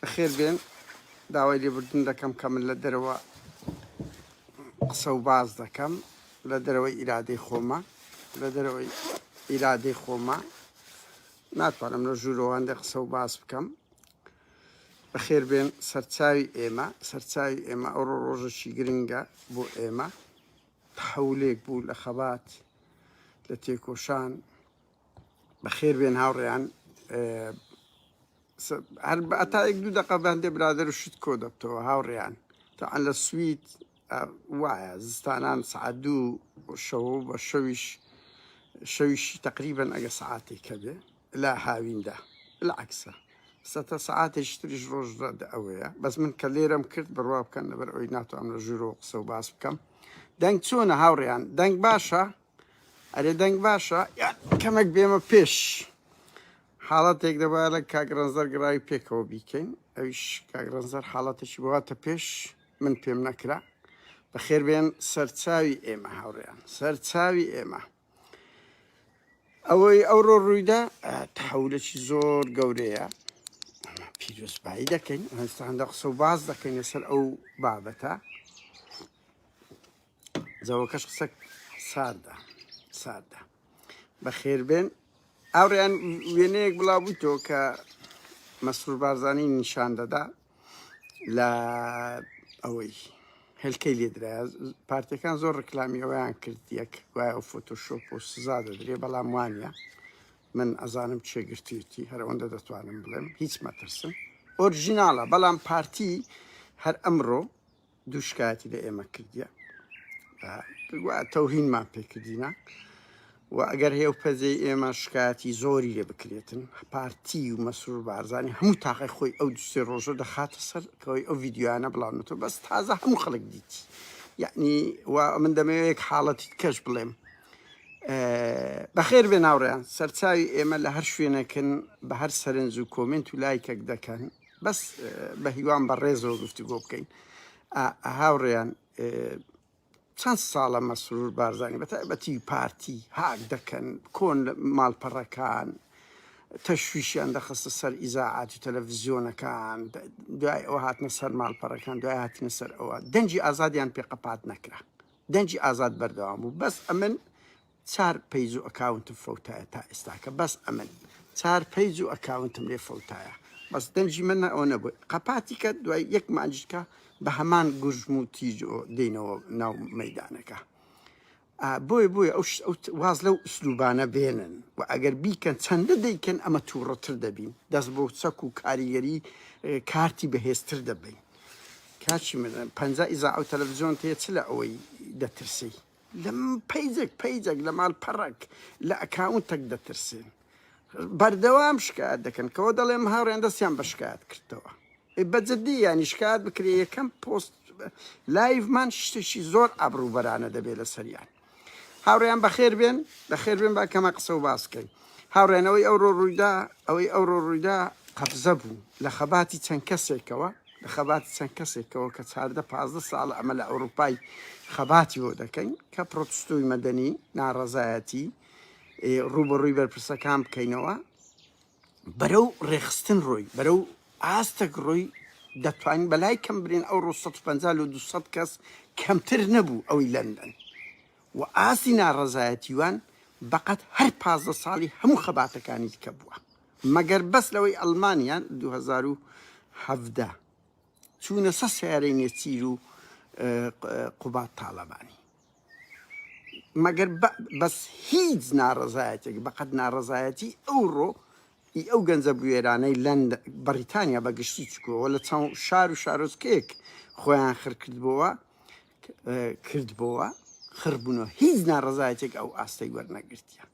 بەخێر بێن داوای لێبوردن دەکەم کە من لە دەرەوە قسە و باز دەکەم لە دەرەوەی ئیرادەی خۆمە لە دەرەوەی ئیرادەی خۆمە ناتوانم لە ژوورەوەندە قسە و باز بکەم بەخێر بێن سەرچاوی ئێمە سەرچاوی ئێمە ئەو ڕۆژەشی گرنگە بۆ ئێمە تحولێک بوو لە خەبات لە تێکۆشان بەخێربێن هاوڕێیان هەر ئەتا یەک دوو دەقە بەندێ برادر و شت کۆ دەبتەوە هاوڕێیان تەعەن لە سوید وایە زستانان سعات دوو شەوە بە شەویش شەویشی تقریبن ئەگە سعاتێک هەبێ لە هاویندا لە عکسە سەتە سعاتێش تریش ڕۆژ ئەوەیە بەس من کە لێرەم کرد بڕوا بکەن لەبەر ئەوی ناتوانم لە ژوورەوە قسە و باس بکەم دەنگ چۆنە هاوڕێیان دەنگ باشە ئەرێ دەنگ باشە یان کەمەک بێمە پێش حاڵەتێک دەبا لە کاک ڕەنزەر گڕاوی پێکەوە بیکەین ئەویش کاک ڕەنزەر حاڵەتێکی بواتە پێش من پێم نەکرا بەخێر بێن سەرچاوی ئێمە هاوڕێیان سەرچاوی ئێمە ئەوەی ئەوڕۆ ڕوویدا تحولێکی زۆر گەورەیە پیرۆزبایی دەکەین هەستاندا قسە و باز دەکەین لەسەر ئەو بابەتە جەوەکەش قسە ساردە ساردە بەخێربێن ئاڕیان وێنەیەک بڵاوبووی تۆ کە مەسرور بارزانانی نیشان دەدا لە ئەوەی هەلکەی لێدرا پارتەکان زۆر ڕکلامی ئەویان کرد یەک وایە و فۆتۆشۆپ و سزا دەدرێ بەڵام وانە من ئەزانم چێگرتیتی هەرەوەندە دەتوانم بڵێم هیچ مەترسم ئۆرژیناڵە بەڵام پارتی هەر ئەمڕۆ دوو شکایەتی لە ئێمە کردیە وا تەوهینمان پێکردینە و ئەگەر هێو پەزەی ئێمە شکایەتی زۆری لێ بکرێتن پارتی و مەسرور بارزانانی هەموو تاقی خۆی ئەو دوسێ ڕۆژە دەخاتە سەر کەەوەی ئەو یددیوانە بڵاونەوە بەس تازە هەموو خەڵک دیتی یعنی و من دەمەوەیەک حاڵەتی کەش بڵێم بەخێر بێ ناوڕیان سەرچاوی ئێمە لە هەر شوێنەکەن بە هەر سەرنج و کۆمنت و لایکەک دەکەن بەس بەهیوام بە ڕێزەوە گفتوگۆ بکەین هاوڕێیان چەند ساڵە مەسرور بارزانانی بەتابەتی پارتی هاک دەکەن کۆن ماڵپەڕەکان تەشویشیان دەخستە سەر ئیزاعات و تەلەڤزیۆنەکان دوای ئەو هاتنە سەر ماڵپەڕەکان دوای هاتنە سەر ئەوە دەنجی ئازادیان پێقەپات نەکرا دەنجی ئازاد بەردەوام بوو بەس ئەمن چار پەیج و ئەکاونتم فەوتایە تا ئێستاکە بەس ئەمن چار پەیج و ئەکاونتم لێ فەوتایە بەس دەنگی من ئەوە نەبوو قەپاتی کە دوای یەک مانجکە بە هەمان گورژم و تیج و دێنەوە ناو مەدانەکە بۆی بۆی ئەو واز لەو ئوسلوبانە بێنن و ئەگەر بیکەن چەندە دەیکەن ئەمە تووڕەتر دەبین دەست بۆ چەک و کاریگەری کارتی بەهێزتر دەبین کاچی من پەنجا ئیزا ئەو تەلەڤزیۆن تێ چ لە ئەوەی دەترسی لە پەیجێک پەیجێک لە مالپەڕێک لە ئەکاونتەک دەترسێن بەردەوام شکایەت دەکەن کەەوە دەڵێم هاوڕێن دەستیان بە شکایەت کردەوە بەجددی ینی شکات بکرێ یەکەم پۆست لایڤمان شتێکی زۆر ئابروبەرانە دەبێت لە سەریان هاوڕیان بەخێر بێن بەخێر بێن باکەمە قسە و باسکەین هاوڕێیان ئەوەی ئەوڕۆ ڕوویدا ئەوەی ئەوڕۆ ڕوویدا قەبزە بوو لە خەباتی چەند کەسێکەوە لە خەباتی چەند کەسێکەوە کە چاردە پازدە ساڵە ئەمە لە ئەوروپای خەباتی بۆ دەکەین کە پرۆتستوی مەدەنی ناڕەزایەتی ڕوبەڕووی بەرپرسەکان بکەینەوە بەرەو ڕێخستن ڕۆی بەرەو ئاستەک ڕۆی دەتوانین بەلای کەم برێن ئەو ڕۆ 150 لە 200 کەس کەمتر نەبوو ئەوی لەندەن و ئاستی ناڕەزایەتیوان بەقەد هەر پازدە ساڵی هەموو خەباتەکانی دیکە بووە مەگەر بەس لەوەی ئەڵمانیا دوو هەزار و حەڤدە چوونە سەر سەیارەی نێچیر و قوباد تاڵەبانی مەگەر بەس هیچ ناڕەزایەتێک بەقەد ناڕەزایەتی ئەوڕۆ ئی ئەو گەنجە بوێرانەی لەند بەڕیتانیا بەگشتی چکۆوە لە چاو شار و شارۆچکەیەک خۆیان خرکردبووە کردبۆوە خڕبونەوە هیچ ناڕەزایەتێک ئەو ئاستەی وەرنەگرتیە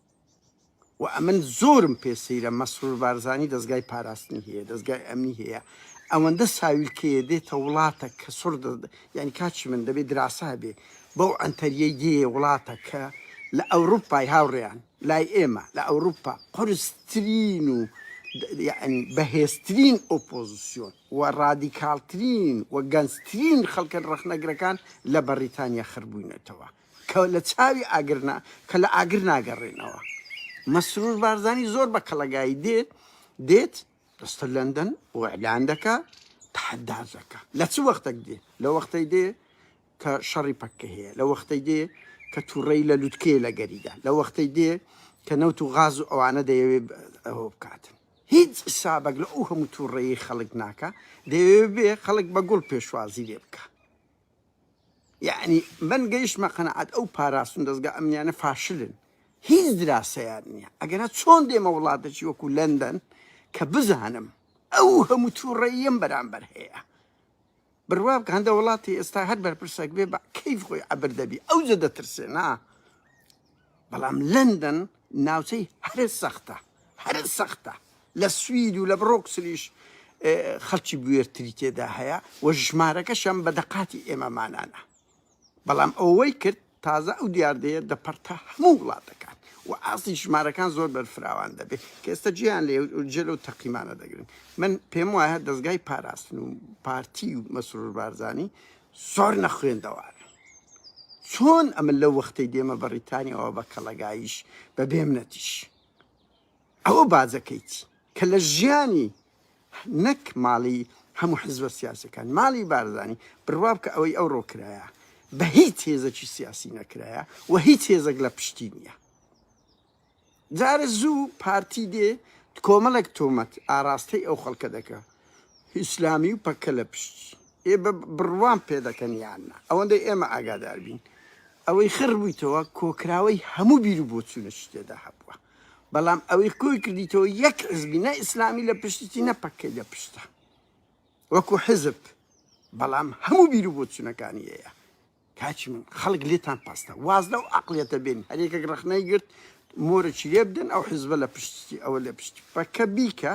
و ئەمن زۆرم پێ سەیرە مەسرور بارزانی دەستگای پاراستنی هەیە دەستگای ئەمنی هەیە ئەوەندە ساویلکەیە دێتە وڵاتە کە سڕ یعنی کاچی من دەبێت دراسە هەبێ بەو ئەنتەریەی دێ وڵاتە کە لە ئەوروپای هاوڕێیان لای ئێمە لە ئەوروپا قرسترین و بەهێزترین ئۆپۆزیسیۆن و ڕادیکاڵترین و گەنجترین خەڵکە ڕەخنەگرەکان لە بەڕیتانیا خربووینەتەوە کە لە چاوی ئاگر نا کە لە ئاگر ناگەڕێنەوە مەسرور بارزانی زۆر بە کەڵەگایی دێت دێت دەستە لەندەن و ئەلان دەکا تحدازەکە لە چ وەختەک دێ لە وەختەی دێ کە شەڕی پەککە هەیە لە وەختەی دێ کە تووڕەی لە لوتکەیە لە گەریدا لە وەختەی دێ کە نەوت و غاز و ئەوانە دەیەوێ ئەوە بکاتن هیچ حسابەک لە ئەو هەموو توڕەیەی خەڵک ناکا دەیەوێ بێ خەڵک بە گوڵ پێشوازی لێ بکا یەعنی من گەیشتمە قەناعەت ئەو پاراستن دەزگا ئەمنیانە فاشلن هیچ دراسەیان نییە ئەگەنا چۆن دێمە وڵاتەکی وەکو لەندەن کە بزانم ئەو هەموو توڕەیەم بەرامبەر هەیە بروابکە هەندە وڵاتی ئێستا هەر بەرپرسەک بێ بە کەیف خۆی عەبر دەبی ئەوجە دەترسێ نا بەڵام لەندەن ناوچەی هەرە سەختە هەرە سەختە لە سوید و لە بڕۆکسلیش خەڵکی بوێرتری تێدا هەیە و ژمارەکەشم بە دەقاتی ئێمەمانانە بەڵام ئەوەی کرد تازە ئەو دیاردەیە دەپەڕتە هەموو وڵاتەکان و ئاستی ژمارەکان زۆر بەرفراوان دەبێت کە ئێستا جێیان لە جێ لەو تەقیمانە دەگرن من پێم وایە دەستگای پاراستن و پارتی و مەسرور بارزانی زۆر نەخوێندەوارە چۆن ئەمە لەو وەختەی دێمە بەڕیتانیەوە بە کەڵەگایش بە بێمنەتیش ئەوە باجەکەیتی کە لە ژیانی نەک ماڵی هەموو حزبە سیاسەکان ماڵی بارزانی بڕوا بکە ئەوەی ئەو ڕۆکرایە بە هیچ هێزەکی سیاسی نەکرایە و هیچ هێزەک لە پشتی نییە جارە زوو پارتی دێ کۆمەڵێک تۆمەت ئاراستەی ئەو خەڵکە دەکە ئیسلامی و پەکە لە پشتی ئێ بە بڕوان پێ دەکەن یاننا ئەوەندەی ئێمە ئاگادار بین ئەوەی خڕ بوویتەوە کۆکراوەی هەموو بیر و بۆچوونە شتێدا هەبووە بەڵام ئەوەی کۆی کردیتەوە یەک حزبی نە ئیسلامی لە پشتتی نە پەکەی لە پشتە وەکو حزب بەڵام هەموو بیرو بۆ چونەکانی هەیە کاچی من خەڵک لێتان پاستە واز لەو عقلەتە بێن هەرێکەک ڕخنەی گرت مۆرەی لێ بدەن ئەو حزبە لە پشتی ئەوە لە پشتی پەکە بیکە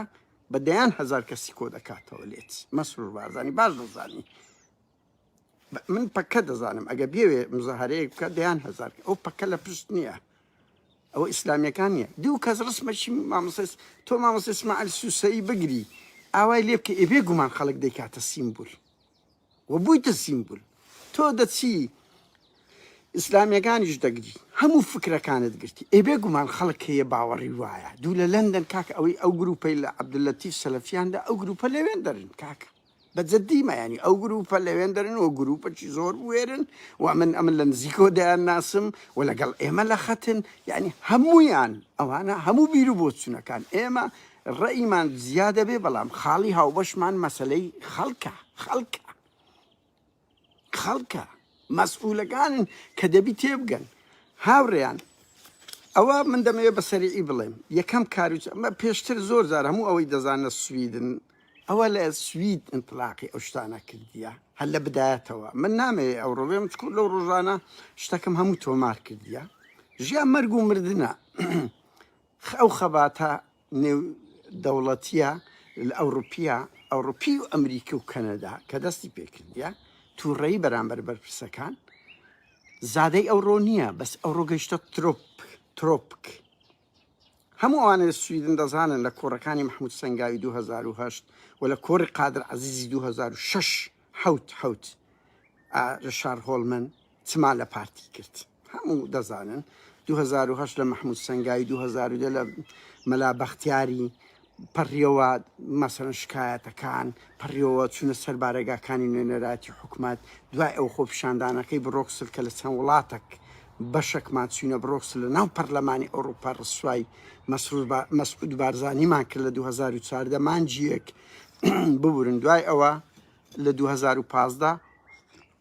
بە دەیان هزار کەسی کۆ دەکاتەوە لێت مەسرور بارزانانی باش دەزانی من پەککە دەزانم ئەگە بێوێ مزەهرەیەک بکە دەیان هزار ئەو پەکە لە پشت نییە ئەو ئیسلامیەکان نیە دوو کەس ڕسمەشی مامۆسس تۆ مامۆسسمەعل سوسەی بگری ئاوای لێ بکە ئێبێ گومان خەڵک دەیکاتە سیمبول و بوویتە سیمبول تۆ دەچی ئیسلامیەکانیش دەگری هەموو فکرەکانت گرتی ئێبێ گومان خەڵک هەیە باوەڕی وایە دوو لە لەندەن کاک ئەوەی ئەو گروپەی لە عبدلەتیف سەلفیاندا ئەو گروپە لەوێن دەرن کاکە بە جدی مەیانی ئەو گروپە لەوێن دەرن و گروپەکی زۆر بوێرن و من ئەمن لە نزیکۆ دەیان ناسم و لەگەڵ ئێمە لە خەتن یعنی هەمویان ئەوانە هەموو بیر و بۆچونەکان ئێمە ڕێیمان زیادە بێ بەڵام خاڵی هاوبەشمان مەسلەی خەڵکە خەڵکە خەڵکە مەسئولەکان کە دەبی تێبگەن هاوڕێیان ئەوە من دەمەوێت بە سەریعی بڵێم یەکەم کاروچ ئەمە پێشتر زۆر زار هەموو ئەوەی دەزانە سویدن ئەوە لە سوید ئینتلاقی ئەو شتانە کردیە هەر لە بدایەتەوە من نامێ ئەو ڕۆێم چکو لەو ڕۆژانە شتەکەم هەموو تۆمار کردیە ژیان مەرگ و مردە ئەو خەباتە نێو دەوڵەتیە ئەوڕوپیە ئەوڕوپی و ئەمریکی و کەنەدا کە دەستی پێکردە تووڕەیی بەرامبەر بەرپرسەکان زادەی ئەوڕۆ نییە بەس ئەوڕۆ گەشتە ترۆپ ترۆپک هەموو ئەوانە سویدن دەزانن لە کۆڕەکانی مححمود سنگاوی 2010 و لە کۆری قادر عزیزی 2006 حوت حوت لە شار هۆڵمن چما لە پارتی کرد هەموو دەزانن دوو هەزار و هەشت لە مەحموود سەنگاوی دوو هەزار و دە لە مەلا بەختیاری پەڕیەوە مەسەرەن شکایەتەکان پەڕیەوە چونە سەر بارەگاکانی نوێنەراتی حکومت دوای ئەو خۆپیشاندانەکەی بڕۆکسل کە لە چەند وڵاتەک بەشەکمان چوینە بڕۆکسل لە ناو پەرلەمانی ئەوروپا ڕسوای مەسرور با- مەسعود بارزانیمان کرد لە 2014 مانجیەک ببورن دوای ئەوە لە 2015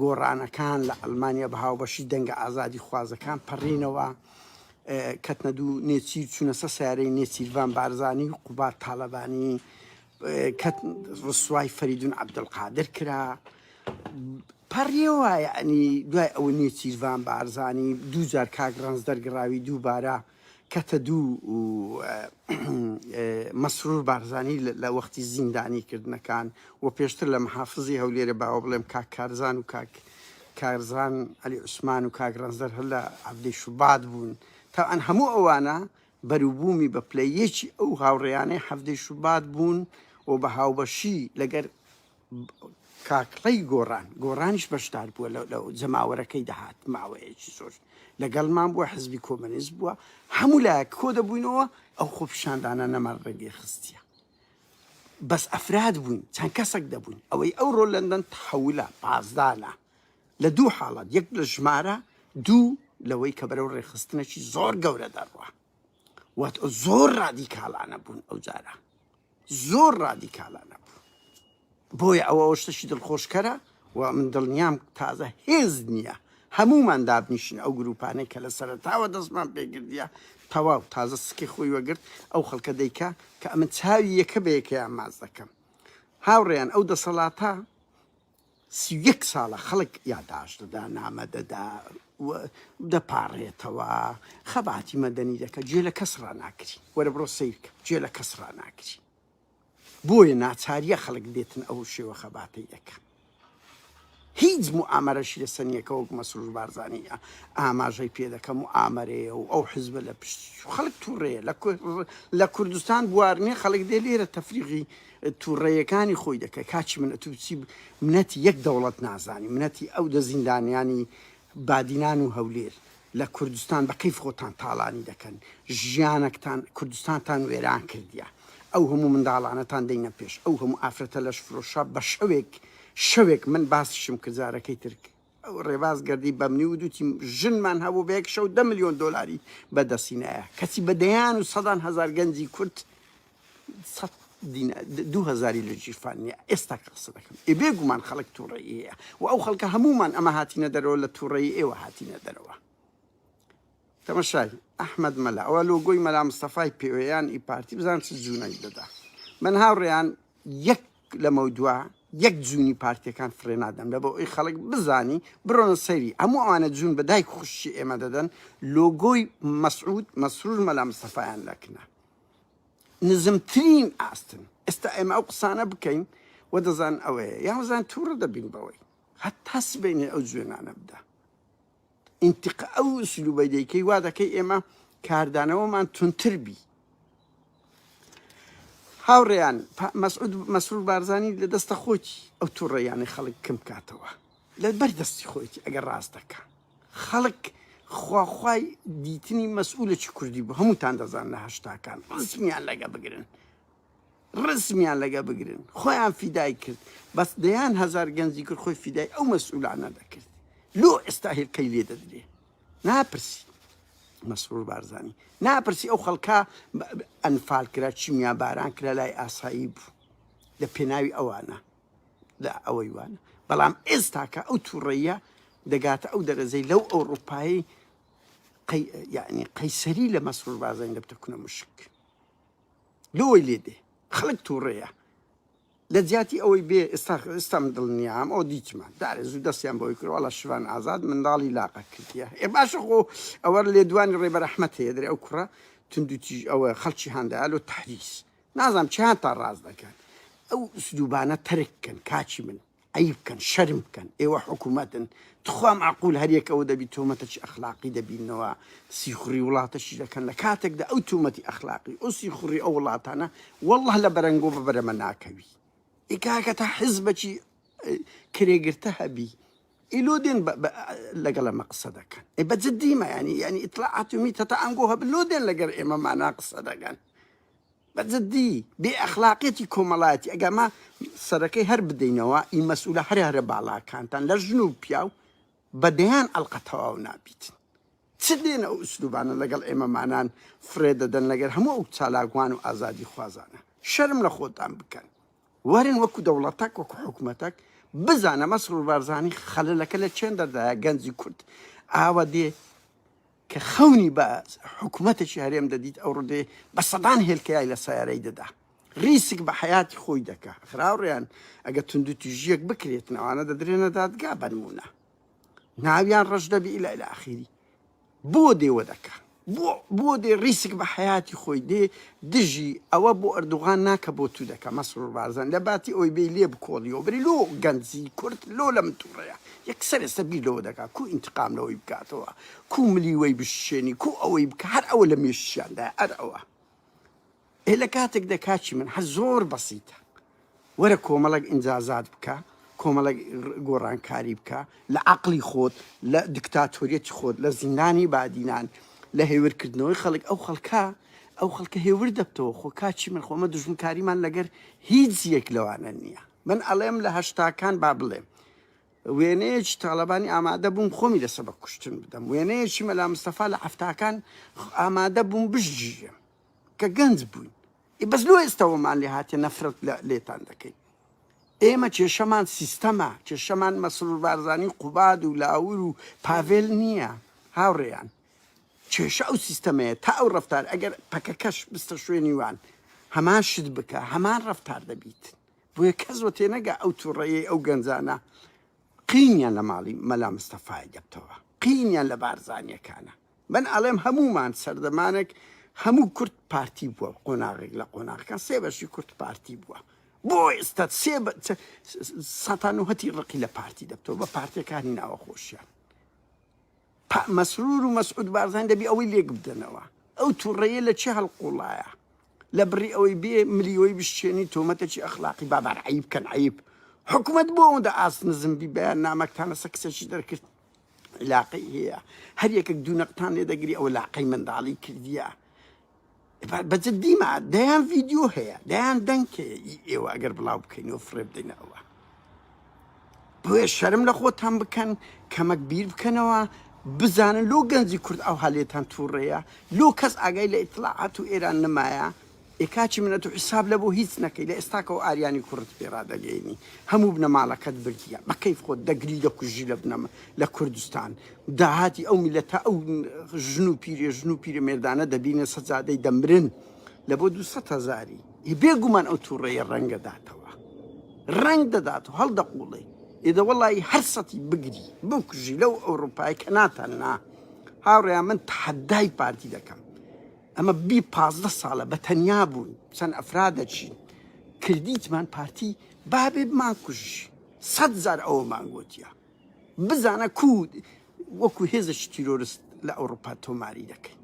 گۆڕانەکان لە ئەڵمانیا بە هاوبەشی دەنگە ئازادیخوازەکان پەڕینەوە، کەتنە دوو نێچیر چوونە سەر سەیارەی نێچیرڤان بارزانی و قوباد تاڵەبانی، ڕسوای فەریدون عەبدولقادر کرا، پەڕیەوە یەعنی دوای ئەوە نێچیرڤان بارزانی دوو جار کاک ڕەنج دەرگڕاوی دووبارە کەتە دوو و مەسرور بارزانی لە وەختی زیندانی کردنەکان و پێشتر لە محافزی هەولێرە باوە بڵێم کاک کارزان و کاک کارزان علی عوسمان و کاک ڕەنجدەر هەر لە عەڤدەی شوبات بوون تاوان هەموو ئەوانە بەروبوومی بە پلە یەکی ئەو هاوڕێیانەی حەڤدەی شوبات بوون و بە هاوبەشی لەگەر کاک ڕەی گۆڕان گۆڕانیش بەشدار بووە لە لە جەماوەرەکەی دەهات ماوەیەکی زۆر لەگەڵمان بووە حزبی کۆمەنیست بووە هەموو لایەک کۆ دەبووینەوە ئەو خۆپیشاندانە نەمان ڕێگەی خستیە بەس ئەفراد بووین چەند کەسێک دەبووین ئەوەی ئەو ڕۆ لەندەن تحولە پازدانە لە دوو حاڵات یەک لە ژمارە دوو لەوەی کە بەرەو ڕێخستنەکی زۆر گەورە دەڕوە واتە زۆر ڕادیکاڵانە بوون ئەو جارە زۆر ڕادیکاڵانە بوو بۆیە ئەوە شتەشی دڵخۆشکەرە و من دڵنیام تازە هێز نییە هەمومان دابنیشن ئەو گروپانەی کە لە سەرتاوە دەستمان پێگردە تەواو تازە سکی خۆی وەگرت ئەو خەڵکە دەیکە کە ئەمە چاوی یەکە بەیەکەیان ماز دەکەم هاوڕێیان ئەو دەسەڵاتە سی و یەک ساڵە خەڵک یاداشت دەدا، نامە دەدا و دەپاڕێتەوە، خەباتی مەدەنی دەکا، گوێ لە کەس ڕاناگری، وەرە بڕۆ سەیر کە، گوێ لە کەس ڕاناگری. بۆیە ناچارییە خەڵک بێتن ئەو شێوە خەباتەی دەکا. هیچ موئامەرەشی لە سەر نییە کە وەک مەسرور بارزانی ئاماژەی پێ دەکا موئامەرەیە و ئەو حزبە لە پشتیشە. خەڵک تووڕەیە، لە کوردستان بوار نییە خەڵک دێ لێرە تەفریغی. توڕەیەکانی خۆی دەکەی کاچی من ئەتو چی منەتی یەک دەوڵەت نازانی منەتی ئەو دە زیندانیانی بادینان و هەولێر لە کوردستان بە کەیف خۆتان تاڵانی دەکەن ژیانەکتان کوردستانتان وێران کردیە ئەو هەموو منداڵانەتان دەینە پێش ئەو هەموو ئافرەتە لەش فرۆشە بە شەوێک شەوێک من باسیشم کرد جارەکەی تر ڕێباز گەردی بەمنی ودوتی ژنمان هەبوو بە یەک شەو دە ملیۆن دۆلاری بەدەستی نایە کەچی بە دەیان و سەدان هەزار گەنجی کورد سەد دینار دوو هەزاری لە ژیرفان نیە ئێستا کە قسە دەکەم ئێ بێگومان خەڵک تووڕەیی هەیە و ئەو خەڵکە هەموومان ئەمە هاتینە دەرەوە لە تووڕەیی ئێوە هاتینە دەرەوە تەمەشای ئەحمد مەلا ئەوە لۆگۆی مەلا مستەفای پێوەیان ئی پارتی بزان چ جوونەک دەدا من هاوڕێیان یەک لەمەودوا یەک جوونی پارتیەکان فڕێ نادەن بە بۆ ئەوی خەڵک بزانی برۆنە سەیری هەموو ئەوانە جوون بە دایک خوشی ئێمە دەدەن لۆگۆی مەسعود مەسرور مەلا مستەفایان لەکنە نزمترین ئاستن ئێستا ئێمە ئەو قسانە بکەین و دەزان ئەوەیە یاوەزان تووڕە دەبین بەوەی هەتا سبینێ ئەو جوێنانە بدە ئینتقا ئەو ئسلوبەی دەیکەی وا دەکەی ئێمە کاردانەوەمان تونتر بی هاوڕێیان مەسعود مەسرور بارزانی لە دەستە خۆتی ئەو تووڕێیانە خەڵک کەم کاتەوە لە بەر دەستی خۆیتی ئەگەر ڕاست دەکە خەڵک خواخوای دیتنی مەسئولە چ کوردی بوو هەمووتان دەزان لە هەشتاکان ڕزمیان لەگە بگرن ڕسمیان لەگە بگرن خۆیان فیدای کرد بەس دەیان هەزار گەنجی کرد خۆی فیدای ئەو مەسئولانە دەکرد لۆ ئێستا هێلکەی لێ دەدرێ ناپرسی مەسرور بارزانانی ناپرسی ئەو خەڵکە ئەنفال کرا چیمیا باران کرا لای ئاسایی بوو لە پێناوی ئەوانە لە ئەوەی وانە بەڵام ئێستاکە ئەو تووڕەیە دەگاتە ئەو دەرەزەی لەو ئەوروپایی یعنی قەیسەری لە مەسرور بازنگ دەبتە کونە مشک لۆی لێ دێ خەلک توڕەیە لەجیاتی ئەوەی بێ ئێستا ئێستا من دڵنیام ئەو دیتمە دارێ زوو دەستیان بەوەی کرد وەڵا شڤان ئازاد منداڵی لاقە کردیە ئێ باشە خۆ ئەوە لێدوانی ڕێبەر ئەحمەد هەیە درێ ئەو کوڕە توندو تیژ ئەوە خەڵکی هاندایە لۆ تەحریس نازانم چیان تا ڕاست دەکەن ئەو ئسلوبانە تەرک کەن کاکی من عەیب بکەن شەرم بکەن ئێوە حکومەتن تخوا مەعقول هەر یەک ئەوە دەبی تۆمەتەکی ئەخلاقی دەبینەوە سیخوڕی وڵاتەشی دەکەن لە کاتێکدا ئەو تومەتی ئەخلاقی ئەو سیخوڕی ئەو وڵاتانە والله لە بەرەنگۆ بە بەرەمە ناکەوی ئیکاکە تا حزبەکی کرێگرتە هەبی ئیلۆ دێن لەگەڵ ئەمە قسە دەکەن ئێ بە جددیمە ینی ینی ئیتلاعاتمی تەتا ئەنگۆ هەبن لۆ دێن لەگەر ئێمە مانا قسە دەگەن بە جدی بێ ئەخلاقیەتی کۆمەڵایەتی ئەگەر ما سەرەکەی هەر بدەینەوە ئی مەسئولە هەرە هەرە باڵاکانتان لە ژن و پیاو بە دەیان ئەڵقە تەواو نابیت چ دێن ئەو ئوسلوبانە لەگەڵ ئێمەمانان فرێ دەدەن لەگەر هەموو ئەو چالاکوان و ئازادی خوازانە شەرم لە خۆتان بکەن وەرن وەکو دەوڵەتەک وەکو حکومەتەک بزانە مەسرور بارزانی خەلەلەکە لە چێن دەردایە گەنجی کورد ئاوە دێ کە خەونی بە حکومەتێکی هەرێم دەدیت ئەو ڕدێ بە سەدان هێلکەیای لە سیارەی دەدا ریسک بە حیاتی خۆی دەکا خراوڕیان ئەگە توندو توژیەک بکرێت نەوانە دەدرێنە دادگا بەنمونە ناویان ڕەش دەبی لە لە ئاخیری بۆ دێوە دەکە بۆ دێ ریسک بە حیاتی خۆی دێ دژی ئەوە بۆ ئەردوغان ناکە بۆ تو دەکە مەسرور بارزان لە باتی ئەوی بێ لێ بکۆڵیەوە بری لۆ گەنجی کورد لۆ لەم تووڕەیە یەکسەر ئێستا بیر لەوە دەکات کوو ئینتقام لەوەی بکاتەوە کوو ملی وەی بششێنی کوو ئەوەی بکە هەر ئەوە لە مێشکیاندا ئەر ئەوە ئێ لە کاتێکدا کاچی من هەر زۆر بەسیتە وەرە کۆمەڵک ئینجازات بکە کۆمەڵک گۆڕانکاری بکە لە عقلی خۆت لە دکتاتۆریەتی خۆت لە زیندانی بادینان لە هێورکردنەوەی خەڵک ئەو خەڵکە ئەو خەڵکە هێور دەبتەوە خۆ کاچی من خۆمە دژمکاریمان لەگەر هیچ یەک لەوانە نییە من ئەڵێم لە هەشتاکان با بڵێم وێنەیەکی تاڵەبانی ئامادە بووم خۆمی لە سەبەک کوشتن بدەم وێنەیەکی مەلا مستەفا لە حەفتاکان ئامادە بووم بژگیرێم کە گەنج بووین ئی بەس لۆ ئێستەوەمان لێ هاتێ نەفرەت لە لێتان دەکەین ئێمە کێشەمان سیستەمە کێشەمان مەسرور بارزانی قوباد و لاور و پاڤێل نییە هاوڕێیان کێشە ئەو سیستەمەیە تا ئەو ڕەفتار ئەگەر پەکەکەش بستە شوێنی وان هەمان شت بکە هەمان ڕەفتار دەبیت بۆیە کەس وە تێنەگا ئەو توڕەیەی ئەو گەنجانە قینیان لە ماڵی مەلا مستەفای دەبتەوە قینیان لە بارزانیەکانە من ئەڵێم هەموومان سەردەمانێک هەموو کورد پارتی بووە قۆناغێک لە قۆناغەکان سێ بەشی کورد پارتی بووە بۆ ئێستا سێ سەتان و هەتی ڕقی لە پارتی دەبتەوە بە پارتەکانی ناوە خۆشیان پئ مەسرور و مەسعود بارزانی دەبی ئەوەی لێک بدەنەوە ئەو توڕەیە لە چێ هەڵقوڵایە لە بڕی ئەوەی بێ ملی وەی بشچێنی تۆمەتە چی ئەخلاقی بابار عەیب کەن عەیب حکومەت بۆ ئەوەندە ئاست نزم بی بەیان نامەکتان لەسە کسەکی دەرکرد علاقەی هەیە هەر یەکەک دوو نەقتان لێ دەگری ئەوە لاقەی منداڵی کردیە بە جدی ما دەیان ڤیدیۆ هەیە دەیان دەنگ هەیە ئی ئێوە ئەگەر بڵاو بکەین و فڕێ بدەینە ئەوە بۆێ شەرم لە خۆتان بکەن کەمەک بیر بکەنەوە بزانن لۆ گەنجی کورد ئەو هەلێتان تووڕەیە لۆ کەس ئاگای لە ئیتلاعات و ئێران نمایە ئێکاچی منەت و حیساب لە بۆ هیچ نەکەی لە ئێستاکەەوە ئاریانی کوڕت پێڕادەگەینی هەموو بنەماڵەکەت بردیە بە کەیف خۆت دەگری دەکوژی لە بنەمە لە کوردستان داهاتی ئەو میلەتە ئەو ژن و پیرێ ژن و پیرە مێردانە دەبینە سەجادەی دەمرن لە بۆ دو سەد هەزاری ی بێگومان ئەو تووڕەیە ڕەنگ دەداتەوە ڕەنگ دەدات و هەڵدەقوڵێ ئێدە وەڵی هەر سەتی بگری بکوژی لەو ئەوروپای کە ناتان نا هاوڕێیان من تحدای پارتی دەکەم ئەمە بی پازدە ساڵە بە تەنیا بوون چەند ئەفرا دەچین کردیتمان پارتی بابێ بمان کوژی سەد زار ئەوەمان گوتیە بزانە کو وەکو هێزش تیرۆرست لە ئەوروپا تۆماری دەکەین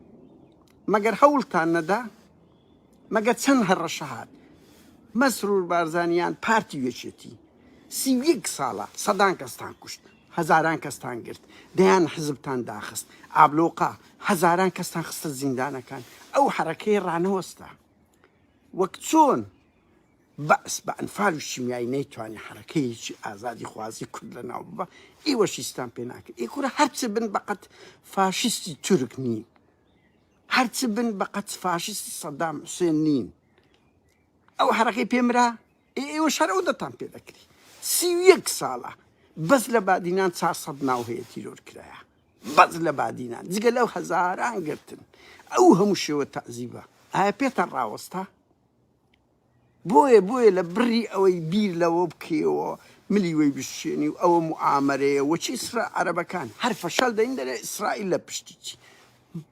مەگەر هەوڵتان نەدا مەگە چەند هەڕەشەهات مەسرور بارزانیان پارتی وێچێتی سی یەک ساڵە سەدان کەستان کوشت هەزاران کەستان گرت دەیان حزبتان داخست ئابلۆقا هەزاران کەستان خستە زیندانەکان ئەو حرەکەی ڕانەوەستا وەک چۆن بەعس بە ئەنفال و شیمیایی نەیتوانی حەرەکەیەکی ئازادیخوازی کورد لەناو ببا، ئیوەش هیچتان پێ ناکرێ، ئیی کورە هەر چ بن بەقەت فاشیستی تورک نین، هەر چ بن بەقەت فاشیستی سەدام حوسێن نین، ئەو حەرەکەی پێ مرا، ئیی ئێوەش هەر ئەو دەتان پێ دەکری، سی و یەک ساڵە بەس لە بادینان چار سەد ناو هەیە تیرۆر کرایە، بەس لە بادینان، جگە لەو هەزاران گرتن، ئەو هەموو شێوە تەعزیبە ئایا پێتان ڕاوەستا؟ بۆیە بۆیە لە بڕی ئەوەی بیر لەوە بکەیەوە ملی وەی بشکێنی و ئەوە موعامەرەیە وەچی ئیسرا عەرەبەکان هەر فەشەل دەین دەرێ ئیسرائیل لە پشتی چی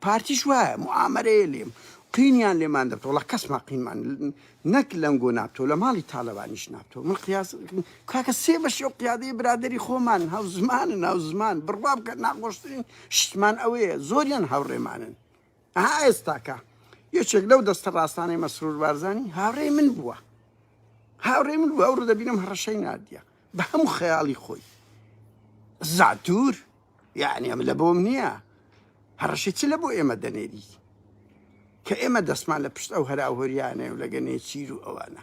پارتیش وایە موعامەرەیە لێم قینیان لێمان دەبت وڵا کەسمان قینمان نەک لەنگۆ نابتەوە لە ماڵی تاالبانیش نابتەوە من قیاس کاکە سێ بەشی و قیادەی برادری خۆمان هاو زمانن هاو زمان بڕوا بکە ناخۆشترین شتمان ئەوەیە زۆریان هاوڕێمانن ئەها ئێستاکە یەکێک لەو دەستە ڕاستانەی مەسرور بارزانی هاوڕێی من بووە هاوڕێ من بووە ئەو ڕدەبینم هەڕەشەی نردە بە هەموو خەیاڵی خۆی زاتور یعنی ئەم لە بۆم نییە هەڕەشی چ لە بۆ ئێمە دەنێری کە ئێمە دەستمان لە پشت ئەو هەراوهۆریانەیە و لەگەنێ چیر و ئەوانە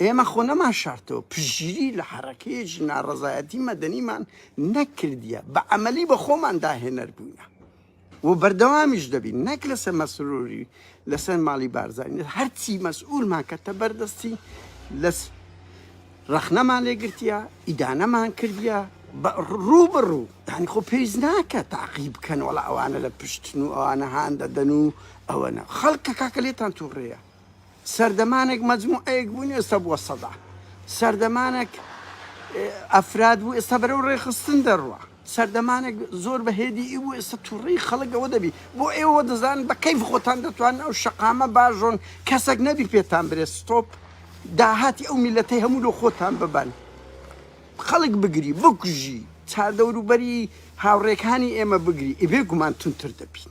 ئێمە خۆ نەمانشارتەوە، پشتگیری لە حەرەکەیەکی ناڕەزایەتی مەدەنیمان نەکردیە، بە عەمەلی بە خۆمان داهێنەر بووینە و بەردەوامیش دەبین، نەک لەسەر مەسروری و لەسەر ماڵی بارزانی، هەرچی مەسئولمان کەتە بەر دەستی لە رەخنەمان لێ گرتیە، ئیدانەمان کردیە، بە روو بە روو، یانی خۆ پێویست ناکا تاقی بکەن، وەڵا ئەوانە لە پشتن و ئەوانە هان دەدەن و ئەوەنە، خەڵکە کاکە لێتان توڕەیە. سەردەمانێک مەجموعەیەک بوون ئێستا بووە سەدا سەردەمانێک ئەفراد بوو ئێستا بەرەو ڕێخستن دەڕوە سەردەمانێک زۆر بە هێدی ئی بوو ئێستا توڕی خەڵکەوە دەبی بۆ ئێوە دەزان بە کەیف خۆتان دەتوان ئەو شەقامە باژۆن کەسێک نەبی پێتان برێ ستۆپ داهاتی ئەو میلەتەی هەموو لۆ خۆتان ببەن خەڵک بگری بکوژی چاردەوروبەری هاوڕێکانی ئێمە بگری ئیبێ گومان تونتر دەبین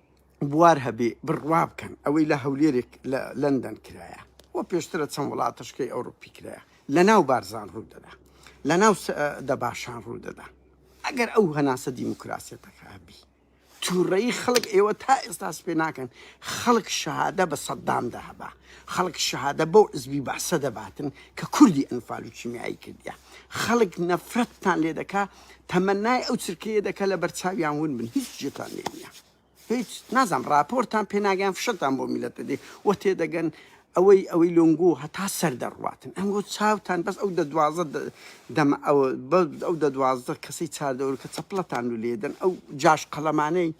بوار هەبێ بڕوا بکەن ئەوەی لە هەولێرێک لە لەندەن کرایە و پێشترە چەند وڵاتەشکەی ئەوروپی کرایە لە ناو بارزان ڕوو دەدا لە ناو دەباشان ڕوو دەدا ئەگەر ئەو هەناسە دیموکراسیەتەکە هەبی تووڕەی خەڵک ئێوە تا ئێستا سپێ ناکەن خەڵک شەهادە بە سەددامدا هەبا خەڵک شەهادە بەو عزبی بەعسە دەباتن کە کوردی ئەنفال و کیمیایی کردیا خەڵک نەفرەتتان لێ دەکا تەمەنای ئەو چرکەیە دەکە لە بەرچاویان ون بن هیچ جێتان لێ نییە هیچ نازانم ڕاپۆرتان پێناگەیان فشەتان بۆ میلەت دەدێ وە تێدەگەن ئەوەی ئەوەی لۆنگۆ هەتا سەر دەڕواتن ئەنگۆ چاوتان بەس ئەو دە دوازە دەمە ئەوە ئەو دە دوازدە کەسەی چاردەوەر کە چەپڵەتان و لێدەن ئەو جاش قەڵەمانەی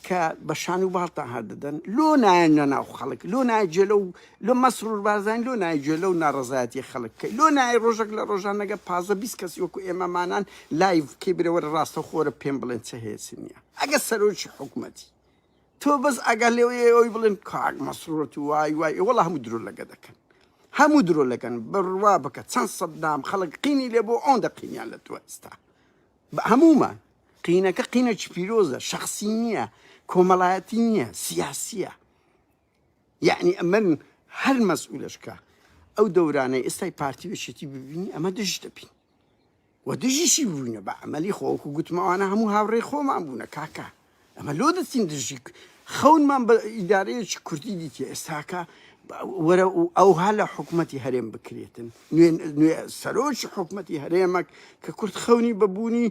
کە بە شان و باڵتان هەر دەدەن لۆ نایەن لە ناو خەڵک لۆ نایە جێ لەو لۆ مەسرور بارزانانی لۆ نایە جێ لەو ناڕەزایەتی خەڵک بکەی لۆ نایە ڕۆژێک لە ڕۆژانەگە پازدە بیست کەسی وەکو ئێمەمانان لایڤ بکەی برێ وەرە ڕاستەوخۆرە پێم بڵێن چ هەیە چ نییە ئەگەر سەرۆکی حکومەتی تۆ بەس ئەگەر لەوەیە ئەوی بڵێن کاک مەسرورەت و وای وای ئێ وەڵا هەموو درۆ لەگە دەکەن هەموو درۆ لەگەن بڕوا بکە چەند سەددام خەڵک قینی لێ بۆ ئەوەندە قینیان لە تۆ ئێستا بە هەموومان قینەکە قینەکی پیرۆزە شخصی نییە کۆمەڵایەتی نییە سیاسیە یعنی ئەمن هەر مەسئولشکە ئەو دەورانەی ئێستای پارتی وشێتی ببینی ئەمە دژ دەبین و دژیشی بووینە بە ئەمەلی خۆکو گوتمەوانە هەموو هاوڕێ خۆمان بوونە کاکە ئەمە لۆ دەچین دژی خەونمان بە ئیدارەیەکی کوردی دیتی ئێستاکە وەرە ئەوها لە حکوومەتتی هەرێم بکرێتن نوێ سەرۆکی حکوومەتتی هەرێمەک کە کورد خەونی بەبوونی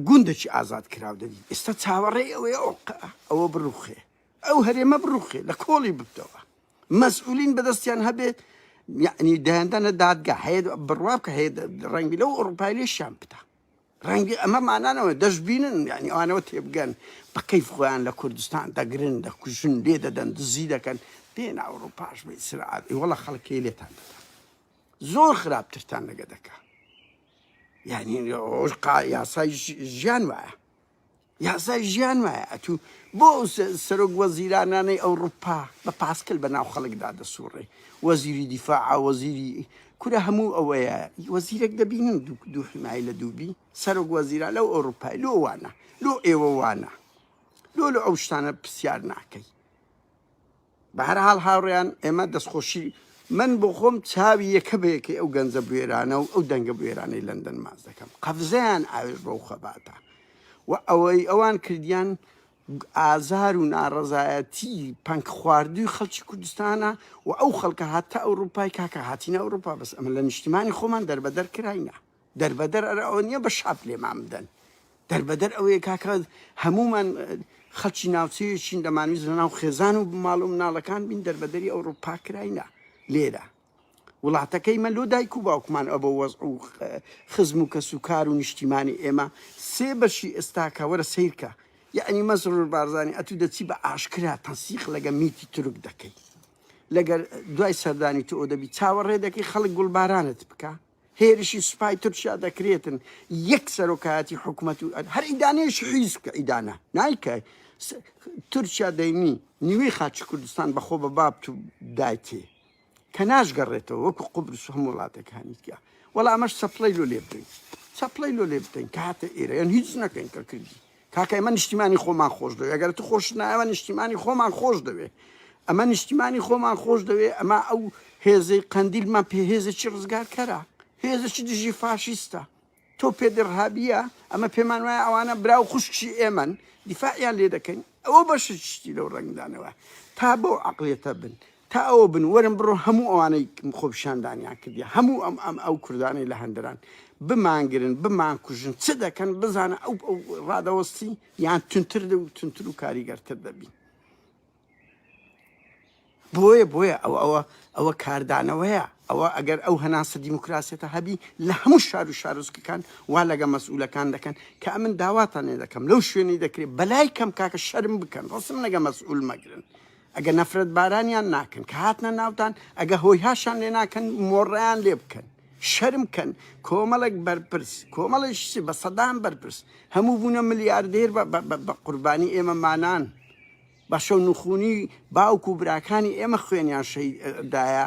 گوندەکی ئازاد کراو دەبی ئێستا چاوەڕێ ئەوەیە ئەو ئەوە بڕوخێ ئەو هەرێمە بڕوخێ لە کۆڵی ببتەوە مەسئولین بەدەستیان هەبێ یعنی دایاندانە دادگا هەیە بڕوا بکە هەیە ڕەنگی لەو ئۆڕوپای لێشیان بدا ڕەنگی ئەمە مانانەوە دەشببینن ینی ئەوانەوە تێبگەن بە کەیف خۆیان لە کوردستان دەگرن دەکوژن لێ دەدەن دزی دەکەن بێن ئەوروپاش بە ئیسرائیل وڵە خەڵکی لێتان دەدەن زۆر خراپترتان لەگە دەکە یعنی ئەوەش قا یاسای ژ- ژیان وایە یاسای ژیان وایە ئەتوو بۆ ئەو سە- سەرۆک وەزیرانانەی ئەوروپا بە پاسکل بە ناو خەڵکدا دەسوڕێ وەزیری دیفاع وەزیری کورە هەموو ئەوەیە وەزیرێک دەبینن دوو دوو حمای لە دووبی سەرۆک وەزیران لەو ئەوروپای لۆ وانە لۆ ئێوە وانە لۆ لە ئەو شتانە پرسیار ناکەی بەهەرحاڵ هاوڕێیان ئێمە دەستخۆشی من بۆ خۆم چاوی یەکە بە یەکەی ئەو گەنجە بوێرانە و ئەو دەنگە بوێرانەی لەندەن ماچ دەکەم قەفزەیان ئاوێژ بەو خەباتە و ئەوەی ئەوان کردیان ئازار و ناڕەزایەتی پەنک خواردووی خەڵکی کوردستانە و ئەو خەڵکە هاتە ئەوروپای کاکە هاتینە ئەوروپا بەس ئەمە لە نیشتیمانی خۆمان دەربەدەر کراینە دەربەدەر ئەرا ئەوە نیە بە شاپ لێمان بدەن دەربەدەر ئەوەیە کاکە هەموومان خەڵکی ناوچەیەکین دەمانویست لەناو خێزان و ماڵ و مناڵەکان بین دەربەدەری ئەوڕوپا کراینە لێرە وڵاتەکەی مە لۆ دایک و باوکمان ئەبە وەز و خزم و کەس و کار و نیشتیمانی ئێمە سێ بەشی ئێستاکە وەرە سیرکە یعنی مەسرور بارزانانی ئەتوو دەچی بە ئاشکرا تەنسیق لەگە میتی تورک دەکەی لەگەر دوای سەردانی تۆ دەبی چاوەڕێ دەکەی خەڵک گوڵبارانت بکە هێرشی سوپای تورکیا دەکرێتن یەک سەرۆکایەتی حکومەت و هەر ئیدانەیەش حیز کە ئیدانە نایکە تورکیا دەینی نیوەی خاچی کوردستان بەخۆ بە بابت و دایتێ کە ناشگەڕێتەوە وەکو قوبرس هەم وڵاتەکانی تیا وەڵا ئەمەش سەپڵی لۆ لێ بدەین سەپڵی لۆ لێ بدەین کاتە ئێرە یان هیچ نەکەین کە کردی کاکە ئێمە نیشتیمانی خۆمان خۆش دەوێ ئەگەر تو خۆشت نایە ئەمە نیشتیمانی خۆمان خۆش دەوێ ئەمە نیشتیمانی خۆمان خۆش دەوێ ئەمە ئەو هێزەی قەندیلمان پێ هێزێکی ڕزگارکەرە هێزێکی دژی فاشیستە تۆ پێدرهابیە ئەمە پێمان وایە ئەوانە برا و خوشکی ئێمەن دیفاعیان لێ دەکەین ئەوە بەشت شتی لەو ڕنگدانەوە تا بەو عقلێتە بن تا ئەوە بن وەرن بڕۆ هەموو ئەوانەی خۆپیشاندانیان کردیە هەموو ئەم ئەم ئەو کوردانەی لە هەندران بمانگرن بمانکوژن چ دەکەن بزانە ئەو ئەو ڕادەوەستی یان تونتر و تونتر و کاریگەرتر دەبین بۆیە بۆیە ئەو ئەوە ئەوە کاردانەوەیە ئەوە ئەگەر ئەو هەناسە دیموکراسێتە هەبی لە هەموو شار و شارۆزکەکان وا لەگە مەسئولەکان دەکەن کە ئەمن داواتانێ دەکەم لەو شوێنەی دەکرێت بەلای کەم کاکە شەرم بکەن ڕسم نەگە مەسئول مەگرن ئەگە نەفرەت بارانیان ناکەن کە هاتنە ناوتان ئەگە هۆی هاشان لێ ناکەن مۆڕیان لێ بکەن شەرم کەن کۆمەڵێک بەرپرس کۆمەڵێش چی بە سەدان بەرپرس هەموو بوونە ملیاردێر بە- بە- بە- بە قوربانی ئێمە مانان بەشە نوخونی باوک و براکانی ئێمە خوێنیان شەیدایە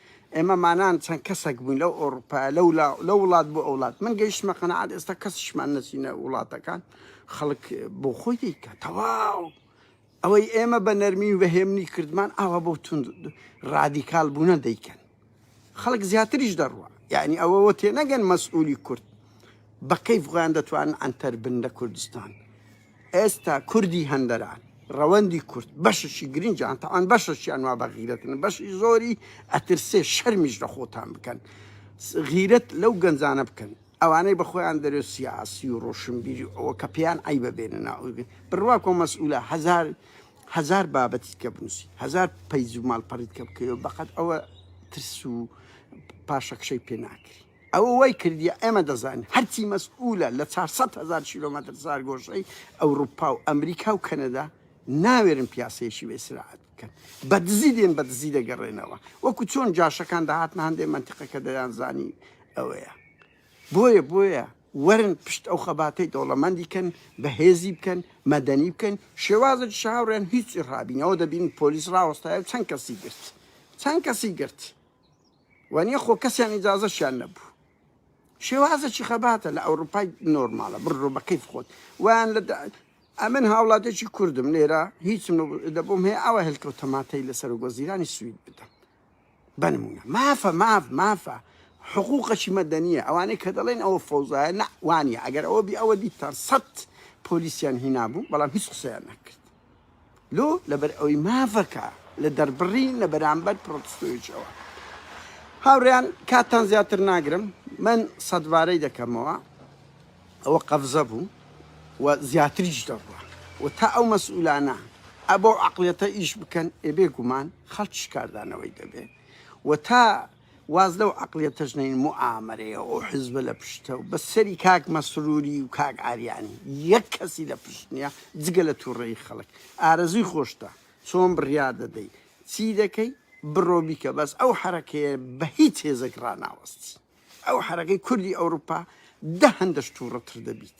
ئێمە مانان چەند کەسەک بووین لەو ئەوڕوپایە لەو لە وڵات بۆ ئەوڵات من گەیشتمە قەنەعات ئێستا کەسیشمان نەچینە وڵاتەکان خەڵک بۆ خۆی دیکە تەواو ئەوەی ئێمە بە نەرمی و بە هێمنی کردمان ئاوا بۆ تون ڕادیکال بوونە دەیکەن خەڵک زیاتریش دەڕوە یعنی ئەوەوە تێ نەگەن مەسئولی کورد بە کەیف غوان دەتوان ئەتەر بن لە کوردستان ئێستا کوردی هەندەران، ڕەوەندی کورد، بەشەکی گرنگیان تاوان، بەشەکیان وا بە غیرەتن، بەشی زۆری ئەترسێ شەرمیش لە خۆتان بکەن، غیرەت لەو گەنجانە بکەن، ئەوانەی بە خۆیان دەرێ سیاسی و ڕۆشنبیری و ئەوە کە پێیان عەیبە بێنە ناو، بڕواکۆ مەسئولە هەزار هەزار بابەتیت کە بنووسی، هەزار پەیج و ماڵپەڕیت کە بکەی و بەقەد ئەوە ترس و پاشەکشەی پێ ناکری. ئەوە وای کردیە ئێمە دەزانین هەرچی مەسئولە لە چار سەد هەزار کیلۆمەتر چارگۆشەی ئەوروپا و ئەمریکا و کەنەدا ناوێرن پیاسەیەکی بێ سراعەت بکەن بە دزی دێن بە دزی دەگەڕێنەوە وەکو چۆن جاشەکان دەهاتن هەندێ منتیقەکە دەیانزانی ئەوەیە بۆیە بۆیە وەرن پشت ئەو خەباتەی دەوڵەمەندی کەن بەهێزی بکەن مەدەنی بکەن شێوازە شاوڕێن هیچی ڕابینەوە دەبین پۆلیس ڕاوەستایە و چەند کەسی گرت چەند کەسی گرت وەنیە خۆ کەسیان ئیجازەشیان نەبوو شێوازەکی خەباتە لە ئەوروپای نۆرمالە بڕۆ بە کەیف خۆت وان لە ئەمن هاوڵاتێکی کوردم لێرە هیچم دەبووم هەیە ئەوە هەلکەوت تەماتەی لە سەرۆک وەزیرانی سوید بدەم بنمونە مافە ماف مافە حقوقەکی مەدەنیە ئەوانەی کە دەڵێن ئەوە فەوزایە نە وانە ئەگەر ئەوە بی ئەوە دیتان سەد پۆلیسیان هینابوو بەڵام هیچ قسەیان نەکرد لۆ لەبەر ئەوەی مافەکە لە دەربڕین لە بەرامبەر پرۆتستۆیەکیەوە. هاوڕێیان کاتتان زیاتر ناگرم من سەدبارەی دەکەمەوە ئەوە قەفزە بوو و زیاتریش دەڕوا و تا ئەو مەسئولانە ئەبەو عەقڵیەتە ئیش بکەن ئێ بێ گومان خەڵکیش کاردانەوەی دەبێ و تا واز لەو عەقڵیە تەژنەی موئامەرەیە ئەو حیزبە لە پشتە و بە سەری کاک مەسروری و کاک ئاریانی یەک کەسی لە پشت نیە جگە لە توڕەیی خەڵک ئارەزوی خۆشتە چۆن بڕیار دەدەی چی دەکەی بڕۆ بیکە بەس ئەو حەرەکەیە بە هیچ هێزێک ڕاناوەستی ئەو حەرەکەی کوردی ئەوروپا دە هەندەش توڕەتر دەبیت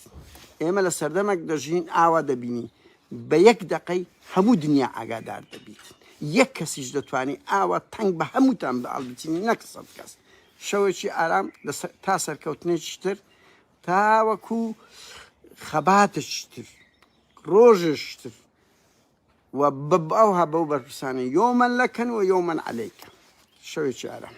ئێمە لە سەردەمەک دەژین ئاوا دەبینین بە یەک دەقەی هەموو دنیا ئاگادار دەبیت یەک کەسیش دەتوانی ئاوا تەنگ بە هەمووتان بە هەڵبچینی نەک سەد کەس شەوێکی ئارام تا سەرکەوتنێکی تر تاوەکو خەباتێکی تر ڕۆژێکی تر و بەباوها بەو بەرپرسانە یۆمەن لەکەن و یۆمەن عەلەیکە شەوێکی ئارام